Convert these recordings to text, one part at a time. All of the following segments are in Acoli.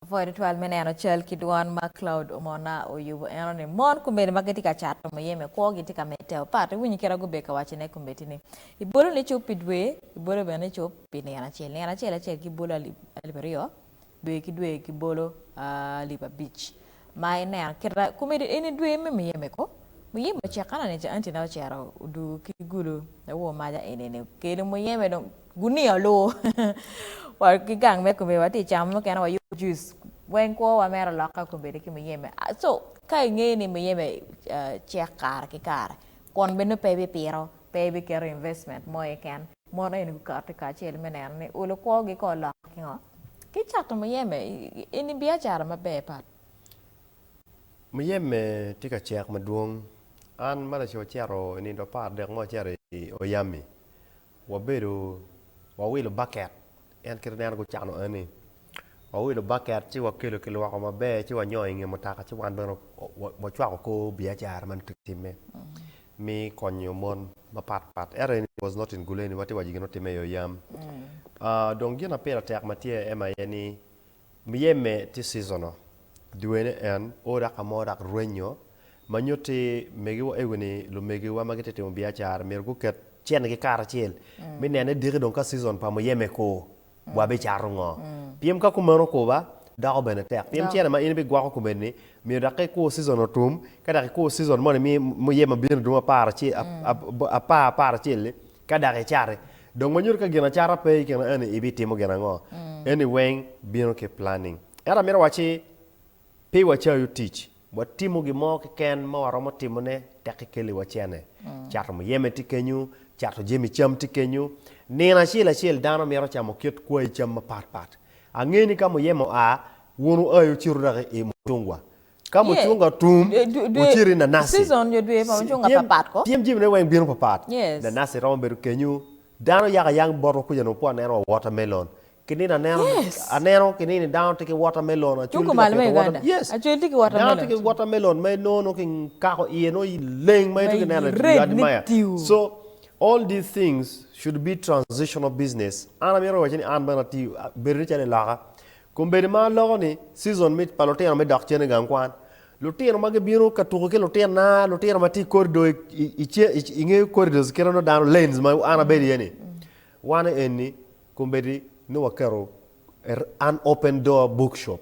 Apwoyo tutwal me neno cal ki dwan ma Claude Omona oyubo eno ni mon kombeddi ma gitye ka cato muyeme kwo gitye ka medde opat iwinyo kit a gubedo ka waco ne kombeddi ni ibolo ni cup pi dwe ibolo bene ni cup pi nino acel nino acel acel gibolo alip alip aryo dwe ki dwe gibolo alip abic ma ineno kit a kombeddi eni dwe me muyeme ko muyeme ocek kane ni ca anti na ocero odu ki gulu awo maja eni ni kelu muyeme dong Gunia oluwo wa ki gang me kombe watye ka camo mukene wayubo juice weng kwo wa mere olok ka kombeddi ki muyeme so ka ingeyo ni muyeme cek kare ki kare kun bene pe ibi pito pe ibi keto investment mo iye ken mono eni gukati kacel me neno ni olo kwo gi kor lok ki ngo ki cato muyeme eni biacara maber pat. Muyeme tye ka cek madwong an ma laco ocito i nindo apar dek mo acito i oyami Wabedo wawilo baket en kit ma en gucano eni wawilo baket ci wakelo kilwoko maber ci wanyongo i nge mutoka ci wan bene wacwako kor biacara ma nongo kitimme me konyo mon mapat pat ento eni was not in guleni watye ka waco gin ma otimme i yo yam dong gin ma pire tek ma tye aye ni Myeme tye seasonal, dwene en o dok ka mo dok rwenyo ma nyutti megiwa ewing ni lumegiwa ma gitye ka timo biacara myero guket cenigi karacel me neno ni diki dong ka season pa muyeme ko wabicato ngo. Pien ka kumeno koba doko bene tek pien cene ma in ibigwoko kumeni myero dok ka ikwo season otum ka dok ikwo season moni me muyeme ma bino dong apar apar acel-li Ka dok icati, dong wanyutu ka gin acata pe i kin eni ibitimo gin ango? Eni weng bino ki planning. Ento amito awaci, pe wacayu tic, watimo gin mo keken ma waromo timone tek ikeli wa cene. Cato muyeme tye kenyu, cato jemi cam tye kenyu. Nino acel acel dano mito camo kit kwai cam mapat pat. Ange ni ka muyeme oa, wun wuai wucito dok i mucungwa. Ka mucunga otum, wucit i nanaci. Tyem jemine weng bino papat. Nanaci romo bedo kenyu. Dano yako ayang botwa kuca onongo pe waneno wa watermelon. Ki nino aneno, aneno ki nini dano tye ki watermelon, acul tye ka pito watermelon. Yes, dano tye ki watermelon ma inongo nongo ki kako iye nongo ileng ma itye ka neno i wi adimaya. So, all these things should be transitional business. An amito wacci ni an bene atye, bedo ni calo iloka, Kombeddi ma loko ni season me pa lutino me dok cen i gang kwan, lutino ma gibino ka tuko ki lutinona, lutino ma tye i corridor i ce i nge corridors kit ma nongo dano lanes ma an abedo iye ni, wan eni kombeddi nongo waketo an open door book shop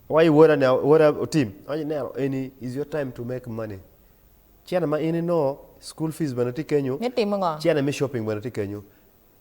awaco woda ni woda otim awaco ni neno eni is your time to make money cene ma in inongo school fees bene tye kenyo, Me timo ngo? cene me shopping bene tye kenyo,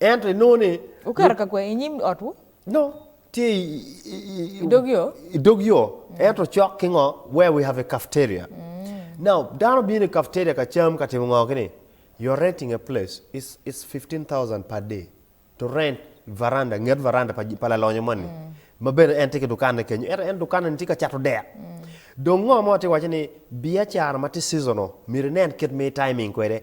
Ento inongo ni. Wukato ka kwee inyim otwu? No, tye i dog yo. I dog yo, ento cok ki ngo? Where we have a cafeteria. Now, dano bino i cafeteria ka cam ka timo ngo kini? You are renting a place, it's it's fifteen thousand per day to rent veranda, nget veranda pa pa lalonyo moni. Ma bene en tye ki dukanne kenyo, ento en dukanne ni tye ka cato dek. Dong ngo mo atye ka waci ni biacara ma tye seasonal myero inen kit ma i timing kwede.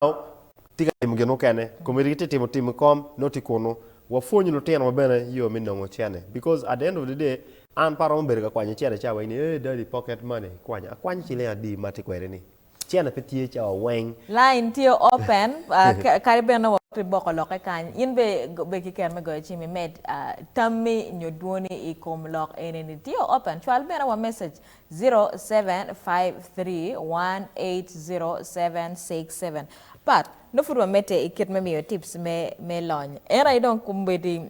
Dano tye ka timo gin mukene, komiti gitye timo tim i kom, nongo tye kunu. Wapwony lutino wa bene yo me nongo cene because at the end of the day an pe aromo bedo ka kwanyo cene cawa wai ni hey daddy pocket money kwanya, akwanyo ciling adi ma atye kwede ni? Cene pe tye cawa weng. Line tye open kadi bed nongo pe iboko lokke kany, in bene bed ki kero me goyo cim imed tammi nyo dwoni i kom lok eni-ni. Tye open, cwal bene wa message 0753180767 But, nongo pud wamedde i kit me miyo tips me me lony. En aye dong komedi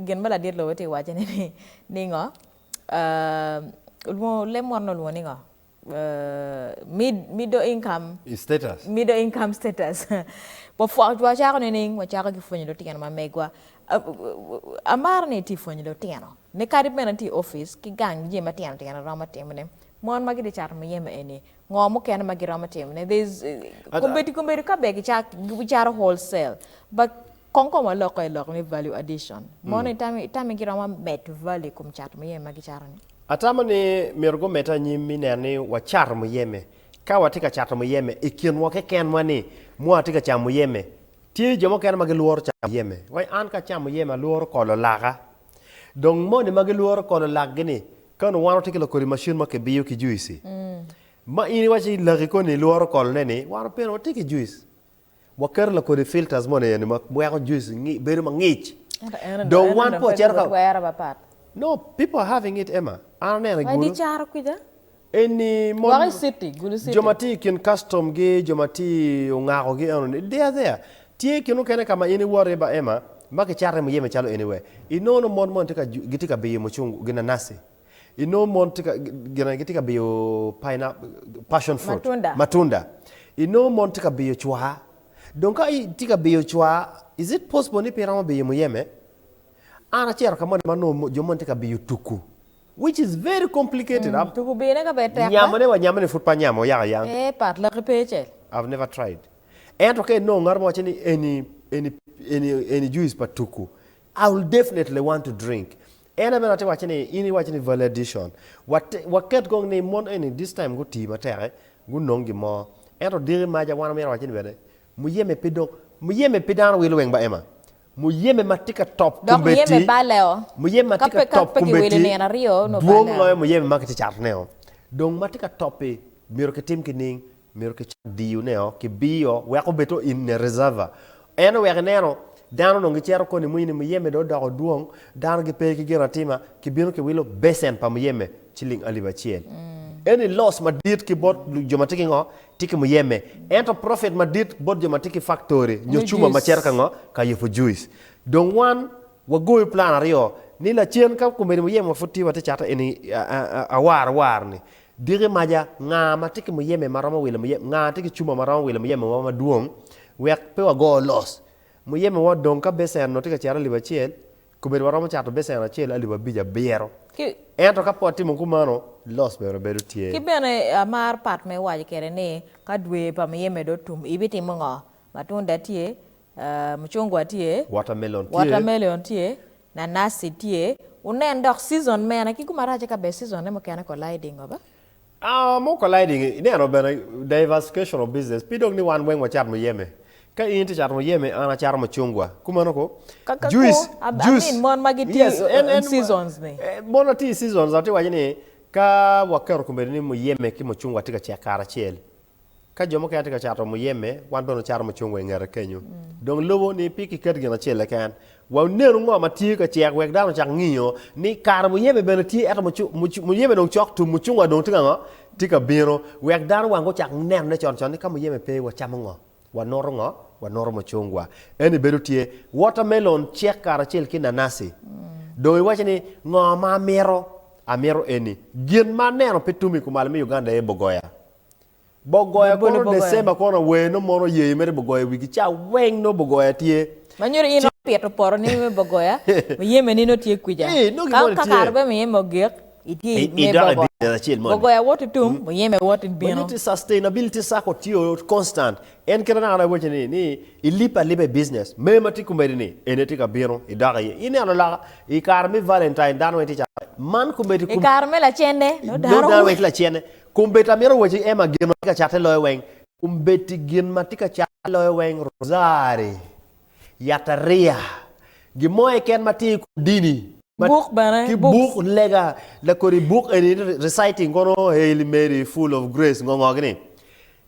gin ma ladit lobo tye ka waccone ni ni ngo? Ahh olwongo leb mot ni olwongo ni ngo? Ahh mid middle income Status. middle income status wapwony wacako nining? Wacako ki pwonyo lutino ma megwa. Ahh Amaro ni itye ka pwonyo lutino. Ni kadi bene tye i opic ki gang jami matino tino iromo timo ne mon ma gitye cato muyeme eni ngo mukene ma giromo timo ne there's kombeddi kombeddi ka ber gicato whole sell but kong kom alokke lok ni value addition mon eni itami giromo medo value ikom cato muyeme ma gicato ni. Atamo ni myero gumedde anyim me neno ni wacato muyeme ka watye ka cato muyeme ikin wa keken wa ni mua tye ka camo muyeme tye jo mukene ma gilworo camo muyeme wai an ka acamo muyeme alworo kolo laka Dong moni ma gilworo kono lakgi ni, Ka onongo wan watye ki lakodi macin ma kibiyo ki juici, ma in iwaco ni laki koni ilworo kolone ni, wan opire watye ki juic. Waketo lakodi i filters moni eni ma weko juice ngi- bedo mangic. Ento en Dong en wan onongo pe pe ocito ka- gutwero papat. No, people are having it, Emma. An aneno i Wai gulu. dicaro kwica, Eni mon, jo ma tye i kin kastom gi jo ma tye i ongako gi eno ni, Deya deya, tye kin mukene ka ma in iwoto iye ba Emma, ma ki cato iye muyeme calo eni we i nongo nongo mon moni gitye ka biyo mucungu, ginanaci, i nongo mon gine gitye ka biyo pineapple, passion fruit, matunda, i nongo mon tye ka biyo cwa, dong ka i tye ka biyo cwa, is it possible ni pe iromo biyo muyeme? An acito ka moni ma nongo jo moni tye ka biyo tuku. Which is very complicated am. Tuku bee ne ka bed tek da. Nyamone wa nyamone pud pe anyamo oyaka yang. Eeh pat laki pe cel. I've never tried ento ka inongo ngato ma waco ni eni eni eni eni juice pa tuku I will definitely want to drink en aye bene atye waco ni in iwaco ni value addition wate waket kong ni mon eni this time gutii matek gunong gin mo ento diki maca wan omyero waco ni bene muyeme pe dong muyeme pe dano wilo weng ba Emma Muyeme ma tye ka top Dok muyeme kombeddi, baleo. muyeme ma Ka tye ka pe ka top pe kiwilo kombeddi nino aryo, onongo dwong baleo. loyo muyeme ma kitye catoneo. Dong ma tye ka top-pi myero kitim ki ning? Myero kicak diyoneo, kibiyo wek obed o in ne reserva. Ento wek ineno, dano onongo gicito koni mui ni muyeme dong odoko dwong, dano gipe ki ginatima, kibino kiwilo becen pa muyeme ciling alip acel. Eni loss madit ki bot jo ma tye ki ngo? Tye ki muyeme. Ento profit madit bot jo ma tye ki faktori nyo cuma ma cito ka ngo? Ka yubo juic. Dong wan wagoyo plan aryo ni lacen ka kombeddi muyeme wa pud tye watye cato eni awar war ni diki maja nga ma tye ki muyeme ma romo wilo muyeme nga tye ki cuma ma romo wilo muyeme wa madwong wek pe wago loss. Muyeme wa odong ka becen onongo tye ka cito alip acel Kobedo waromo cato becen acel alip abic abiro. Ento ka pe watimo kumano, loss bene bedo tye. Ki bene, amar pat ma iwaco kwede ni, Ka dwe pa muyeme dong otum, ibitimo ngo? Matunda tye, mucungwa tye, watermelon tye, nanasi tye, wunen dok season mene. Ki kumarac-ci ka bene season-ne mukene colliding-o be? Our more colliding ineno bene diversification of business pi dog ni wan weng wacat muyeme. Ka in itye cato muyeme an acato mucungwa. Kumeno ko. Kaka kwo, Juice, I mean juice. mon ma gitye Yes, en in en seasons ni. eh, mon ma tye i seasons atye ka waco ni ka waketo komedi ni muyeme ki mucungwa tye ka cek kare acel. Ka jo mukene tye ka cato muyeme, wan bene wacato mucungwa i ngete kenyu. Dong lubo ni pe kiket gin acel keken. Wa onenu ngo ma tye ka cek wek dano ocak ngiyo ni kare muyeme bene tye ento muyeme dong cok tum mucungwa dong tye ka ngo? Tye ka bino. Wek dano wang gucak nenone con con ni ka muyeme pe wacamo ngo? Wanutu ngo? Wanutu mucungwa. Eni bedo tye watermelon cek karacel ki nanasi. Dong iwaco ni ngo ma amito? Amito eni. Gin ma aneno pe tum i kumalo me Uganda aye bogoya. Bogoya Labol kono bogoya. December kono awer nongo mono yeyo mere bogoya i wigi ca weng nongo bogoya tye. Ma nyuto in nongo pito poro ni me bogoya muyeme ni nongo tye kwica. Ii, nongo Ka gimoni ka tye. kare pe muyeme ogik, itye I- me idok i bogoya. business acel moni. Bogoya woti tum, muyeme woti Ma bino. nyuto ni sustainability circle tye o constant. En kit ma dano arabo waco ni, ni ilipe alipa i business, mer ma tye komedi ni en aye tye ka bino idok iye. Ineno laka i kare me Valentine dano weng tye calo man komedi I kom kare me lacenne, nongo dano dano weng tye lacenne. Kombeddi amito wacci Emma gin ma tye ka catte loyo weng. Kombeddi gin ma tye ka catte loyo weng rosari, yatariya, gin mo keken ma tye i kom dini. Buk bene, ki buk lega da kodi buk eni Reciting kono Hail Mary Full of Grace ngo ngo gini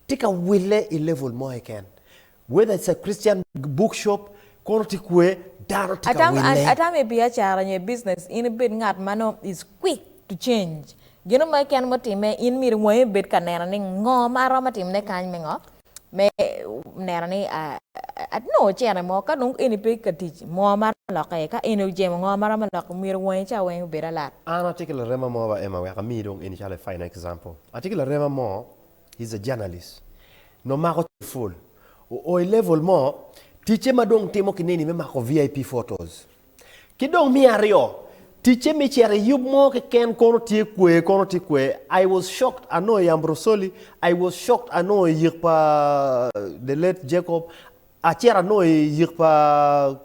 tye ka wille i level mo keken. Whether it's a Christian book shop, kono tye kwer, dano tye ka Atamo wille. atamo i biacara nyo i business in ibed ngat ma nongo is quick to change. Gino mo keken mutimme in myero wangi obed ka neno ni ngo ma aromo timone kany me ngo me neno ni anongo cene mo ka dong eni pe ka tic ngo ma aromo lokke iye ka eni ojemo ngo ma aromo lokke myero wangi ca weng obed alat. An atye ki larema mo ba Emma wek amiyi dong eni calo a final example. Atye ki larema mo He's a journalist. Nongo mako cal full. Oo i level mo, ticce ma dong timo ki neni me mako VIP photos. Ki dong me aryo, ticce me cito i yub mo keken kono tye kwee kono tye kwee. I was shocked anongo i Ambrosoli, I was shocked anongo i yek pa the late Jacob, Acito anongo i yik pa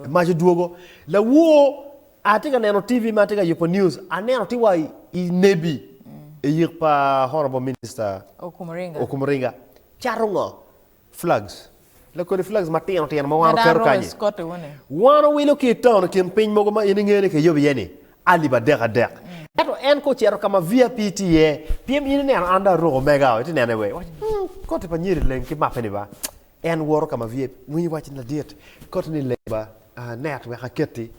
mac odwogo. Lawor atye ka neno TV ma tye ka yubo news. Aneno tye wa i Nebi i yik pa Honorable Minister Okumuringa. Cato ngo? Flags. Lakodi flags matino tino ma wan oketo kanyi. Wan owilo ki i town i kin piny mogo ma in inge ni kiyobo iye ni. alip adek adek. Ento en ka ocito ka ma VIP tye iye, pien in ineno an dong aruko mega oo, itye neno iye wee, iwaco ni, Ung, koti pa Nyeri leng ki mape-ni ba. En woto ka ma VIP, winyo waci ni, Ladit, koti ni leng ba, ah, net wek aketi,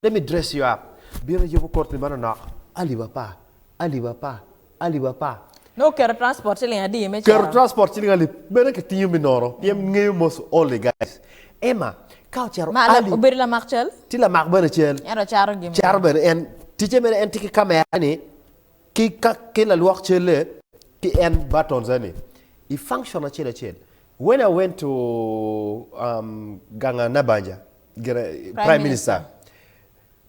let me dress you up. Bino yubo koti manonok, alip apar, alip apar, alip apar. Nongo keto transport ciling adi me Keto cito? transport ciling alip mene ki tingo me nono pien ngeyo most only guys Emma ka ocito Ma alip obedo lamak cal? Tye lamak bene cal. Ento cato gin mene. Cato bene en ticce mene en tye ki camera ni ki ka ki lalwok calle ki en buttons eni i function acel acel when I went to um, ganga Nabanja gire Prime prime minister Minister.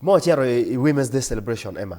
ma ocito i women's day celebration Emma.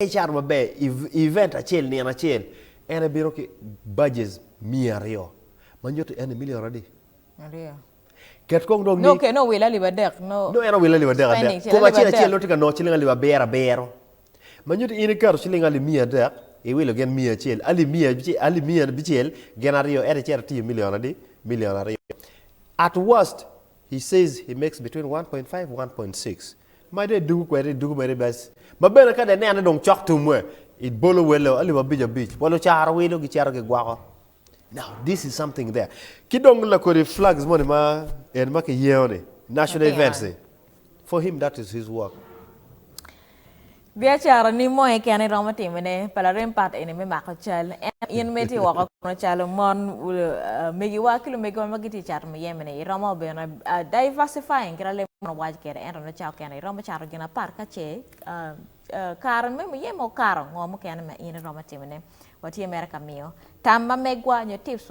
Icato maber i event acel nino acel, en ebino ki badges miya aryo, ma nyuto ni en emilio aradi. Aryo. Ket kong dong ni. Nongo owilo alip adek. Nongo en owilo alip adek adek. Kom acel acel nongo tye ka nongo ciling alip abiro abiro. Ma nyuto ni in iketo ciling alip miya adek, iwilo gin miya acel, alip miya alip miya abicel, gin aryo, ento icito itiyo milion adi? Milion aryo. At worst, he says he makes between one point five, one point six. Ma dong idugu kwede, idugu mere bes. Ma bene ka dong ineno ni dong cok tumwe, ibolo welo alip abic abic wa lucaro wilo gicito gigwoko. Now, this is something there. Ki dong lakodi flags moni ma en ma kiyengo ni, national Matino. events-i. For him that is his work. Biacara ni mo keken iromo timo ne pa larem pat eni me mako cal ento in me tye woko kono calo mon megi wa ki lumegi wa magi tye cato muyeme ni iromo bene diversifying kit alemo man owaco kede ento ne cawa kene iromo cato gin apat kace kare me muyeme okato ngo mukene ma in iromo timo ne watye mere ka miyo tam ma megwa nyo tips